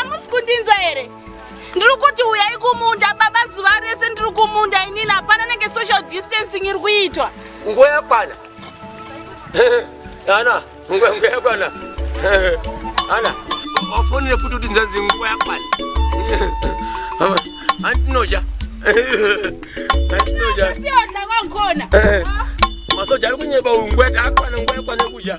amusi kundinzwa here ndiri kuti uyai kumunda baba zuva rese ndiri kumunda inini hapana nenge social distancing iri kuitwa nguva yakwana ana nguva yakwana ana wafonere futi kuti nzanzi nguva yakwana andinoja andinoja masoja ari kunyeba uyu nguva yakwana nguva yakwana kudya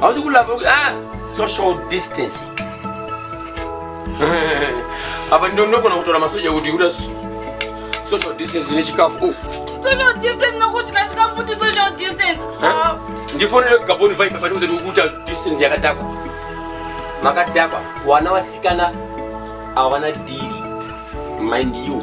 hausi kulamba ah, social distancing apa ndonogona kutora masoja kuti kuda social distance nechikafu oh. social distance nokudya chikafu ndi social distance ah. ndifonere kugaboni vaipa pandiuze tikukuta distance yakadhakwa makadhakwa wana vasikana avana dhiri mind you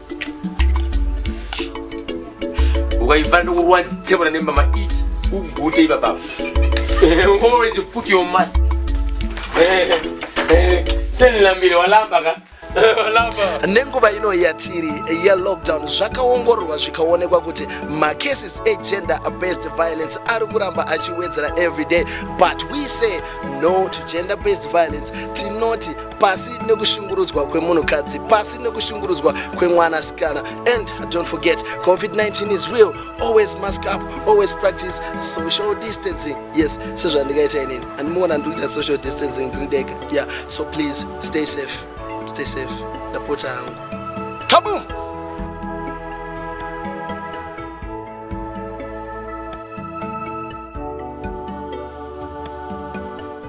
ukaibva ndokurwa tsemana nemama it ugute ibababa always put your mask senilambire walamba ka nenguva ino yatiri yelockdown zvakaongororwa zvikaonekwa kuti macases egender based violence ari kuramba achiwedzera everyday but we say no to gender based violence tinoti pasi nekushungurudzwa kwemunhukadzi pasi nekushungurudzwa kwemwanasikana and don't forget covid-19 is real always mask up always practice social distancing yes sezvandikaita inini andimuona ndikuita social distancing ndindega yeah so please stay safe stay safe ndapota hangu kabum